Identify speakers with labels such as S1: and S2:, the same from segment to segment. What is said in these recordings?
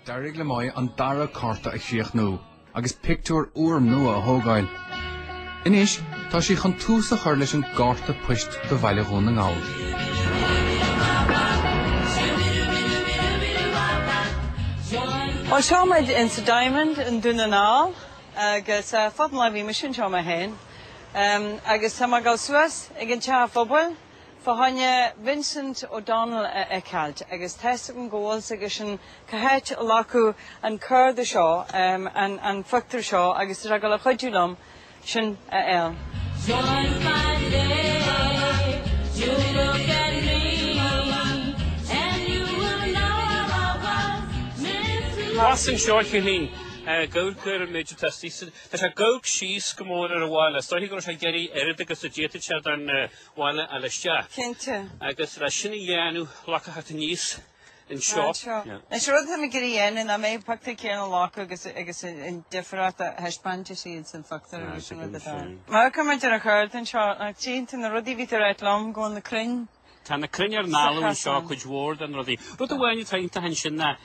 S1: D'éirigh le Moya an dara cárta a chríochnú agus pictiúr úr nua a thógáil. Anois, tá sí chun tús a chur leis an gcárta poist do Bhaile Dhún na nGall.
S2: Bhuel, seo muid insa Diamond in Dún na nGall agus fada an lá ó bhí mise anseo mé fhéin agus tá mé ag gabháil suas ag an teach phobail. Fá choinne Vincent O'Donnell a fheiceáilt, agus tá's agam go bhfuil 's aige sin cá háit a glacadh an cárta seo, an phictiúr seo, agus tá sé ag gabháil a chuidiú liom sin a fháil.
S3: Thuas anseo a Chillín, ag amharc ar an méid atá istigh san. Tá sé ag amharc síos go mór ar an bhaile. Is dóiche go raibh sé ag iarraidh oiread agus a d'fhéadfadh sé den. bhaile a fháil isteach. Cinnte.
S2: Agus leis sin
S3: a dhéanamh, ghlacadh thart aníos anseo. Anseo. Anois rud atá mé
S2: ag iarraidh a dhéanamh ná an pictiúr céanna a ghlacadh agus agus an difríocht a thaispeáint is iad san phictiúr agus sin rud atá. Amharcamar ar an chárta anseo ach cionn de na rudaí a bhí tú ag ráit liom go bhfuil na crainn Tá na crainn ar an
S3: bhealach anseo cuid mhór de na rudaí. Rud amháin atá iontach ansin ná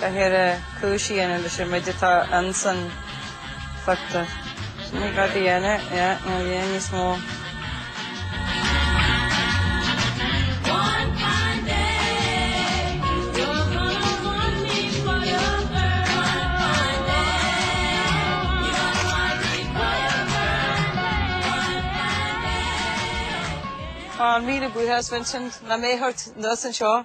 S2: Caithfear cúis a dhéanamh leis an méid atá insan phictiúr. Sin é rud a dhéanamh, yeah, nó dhéanamh níos mó. Tá míle buíochas Vincent, na mé ort nós anseo.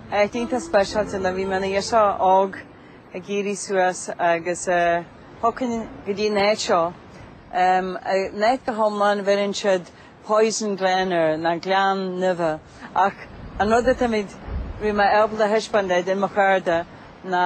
S2: Áit iontach speisialta nuair a bhí mé ina ghirseach óg ag éirí suas agus thiocfainn go dtí an áit seo. An áit go hiomlán, bheireann siad Poison Glen air, an Gleann Nimhe, ach an rud atá mé, bhí mé ábalta a thaispeáint duit, do mo chairde ná,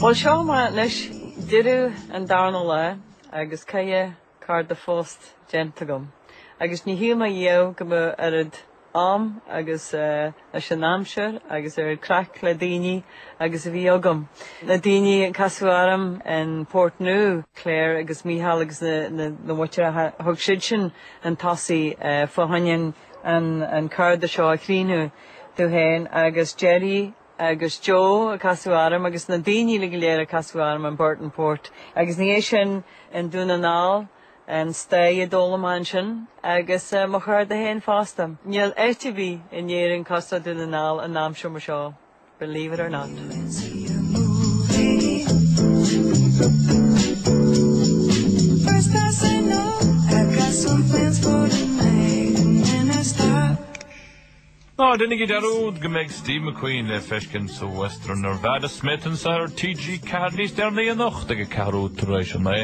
S2: Bhuel, seo muid anois deireadh an darna lá agus ceithre. Chárta poist déanta agam agus níor shíl mé riamh go mbeadh oiread am agus leis an aimsir agus oiread craic le daoine agus a bhí agam. Na daoine a casadh orm in Port Nu, Claire agus Micheál agus na Muirdheacha, thug siad sin an tosaí fá choinne an cárta seo a chríochnú, tú féin agus Gerry agus Joe ag casadh orm agus na daoine uilig go léir ag casadh orm in Burton Port agus ina dhiaidh sin i nDún na nGall, an stay a d'fhan mé ansin agus mo chuid daoine féin fosta. Níl áit ar bith in Éirinn cosúil le Dún na nGall in am seo mar seo, believe it or not.
S4: Ná déanaigí dearúd go mbeidh Steve McQueen le feiscint sa Western Nevada Smith anso ar TG4 níos deireanaí anocht ag a ceathrú tar éis a naoi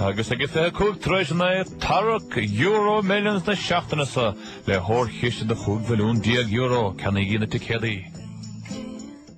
S4: agus ag a fiche cúig tar éis a naoi. Tarrac EuroMillions na seachtaine seo le hollchiste de chúig mhilliún déag euro, ceannaígí na ticéadaí!